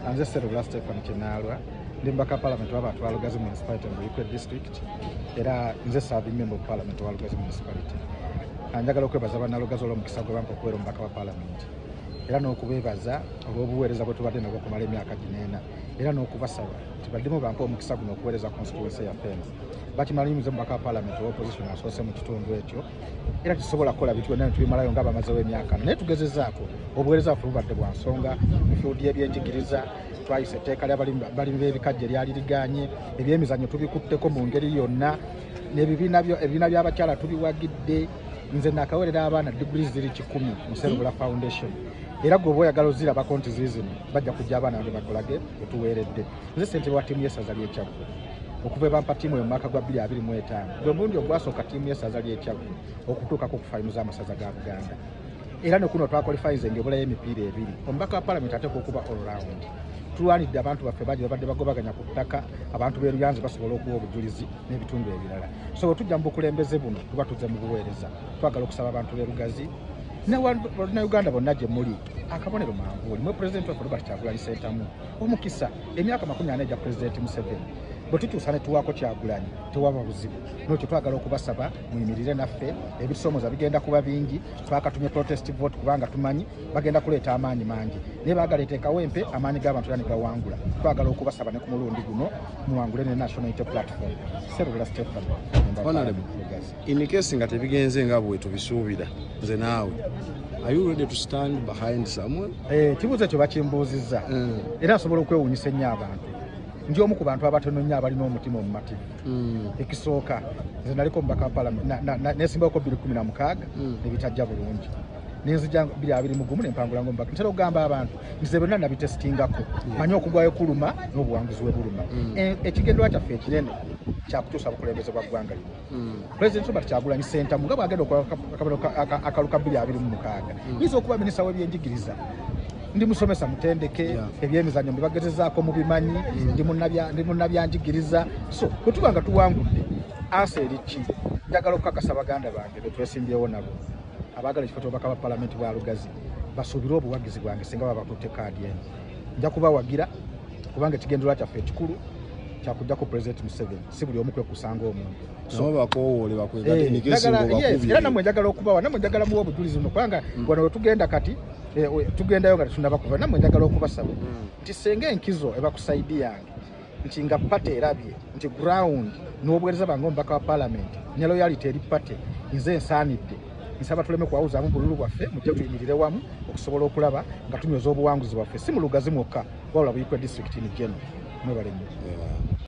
Anze Serula Stefan Kinaalwa ndi mubaka palamenti w'abantu ba Lugazi municipality mu Buikwe district era nze serving member of parliament wa Lugazi municipality. Anjagala okwebaza bannalugazi olw'omukisa gwe bampa okubeera omubaka wa palamenti era n'okubeebaza olw'obuweereza bwe tubadde nabwo okumala emyaka gino ena era n'okubasaba nti baddemu bampa omukisa guno okuweereza constituency yaffe eno. Bakimala nyumiza omubaka wa palamenti ow'opposition asoose mu kitundu ekyo. era tusobola kukola bintu byonna netubimalayo nga bamazewo emyaka naye tugezezaako obuweereza baffe bubadde bwa nsonga mu fiudi y'ebyenjigiriza twayisa etteeka lyabalimi b'ebikajja eryali liganye ebyemizannyo tubikutteko mu ngeri yonna nebibiina by'abakyala tubiwagidde nze nakawerera abaana diguli ziri kikumi mu serubula foundation era gwe oba oyagala ozirabako nti ziizino bajja kujja abaana bange bakolage otuweeredde nze sente wa tiimu yesaza lyekyaggwe okuva ebampa tiimu eyo mwaka gwa 2025 gwe mulundi ogwasooka tiimu y'essaza ly'ekyagu okutuukako ku faino z'amasaza ga buganda era nekuno twakolifayinze ngaebulayo emipiira ebiri omubaka wa palamenti ateeka okuba allround tulwanidde abantu baffe bangi babadde bagobaganya ku ttaka abantu beruyanzi basobola okuwa obujulizi n'ebitundu ebirala so wetujja mu bukulembeze buno tuba tuze mu buweereza twagala okusaba abantu berugazi nebannauganda bonna gye muli akabonero mangu olimwe pulezidenti waffe robert kyagulanyi sentamu omukisa emyaka makumi ana egya pulezidenti museveni bwe tutuusa ne tuwaako kyagulanyi tewaba buzibu nokyo twagala okubasaba muyimirire naffe ebisoomoza bigenda kuba bingi twakatumye protest vote kubanga tumanyi bagenda kuleeta amaanyi mangi naye baagala eteekawo empe amaanyi g'abantu era ne gawangula twagala okubasaba ne ku mulundi guno muwangule ne national unity platform serubula stephen In case nga tebigenze nga bwe tubisuubira nze naawe are you ready to stand behind someone eh kibuze kyo bakimbuziza mm. era asobola okwewunyisa ennyo abantu ndi omu ku bantu abatono nnyo abalina omutima omumati mm. ekisooka nze naliko omubaka wa palamenti nesimbako biri kumi na mukaaga mm. nebitajja bulungi nenzija biri abiri mugumu nempangula nga omubaka ntera okugamba abantu nze byonna nabitesitingako manyi okugwayo kuluma n'obuwanguzi we buluma mm. eh, ekigenderwa kyaffe ekinene kyakutuusa bukulembeze bwa ggwanga lino Mm. president robert kyagulanyi sentamu nga bwagenda okola akalu ka 226 yinza okuba minisita w'ebyenjigiriza ndi musomesa mutendeke ebyemizanyo mbibagezezaako mubimanyi ndi munabyanjigiriza so bwetuba nga tuwangudde asa eriki njagala okukakasa baganda bange betwesimbyewo nabo abaagala ekifo kyobubaka bwa palamenti bwa lugazi basuubire obuwagizi bwange singa babatutte kaadi eno nja kubawagira kubanga ekigendererwa kyaffe ekikulu kyakujjako president museveni si buli omu kwekusanga omuntu eh, era namwe njagala okubawa namwe njagala muwa obujulizi no kubanga mm. wano wetugenda kati eh, tugendayo nga tetunaba kuva namwe njagala okubasaba mm. nti senga enkizo ebakusaidiyange nti nga pate erabye nti ground n'obuweereza bange omubaka wa palamenti ne loyality eri pate nze ensaanidde nsaba tuleme kuwawuzaamu bululu bwaffe mujja tuyimirire wamu okusobola okulaba nga tunyweza obuwanguzi bwaffe si mu lugazi mwokka wabula buyikwe disitulikiti ni geno mwebalenyo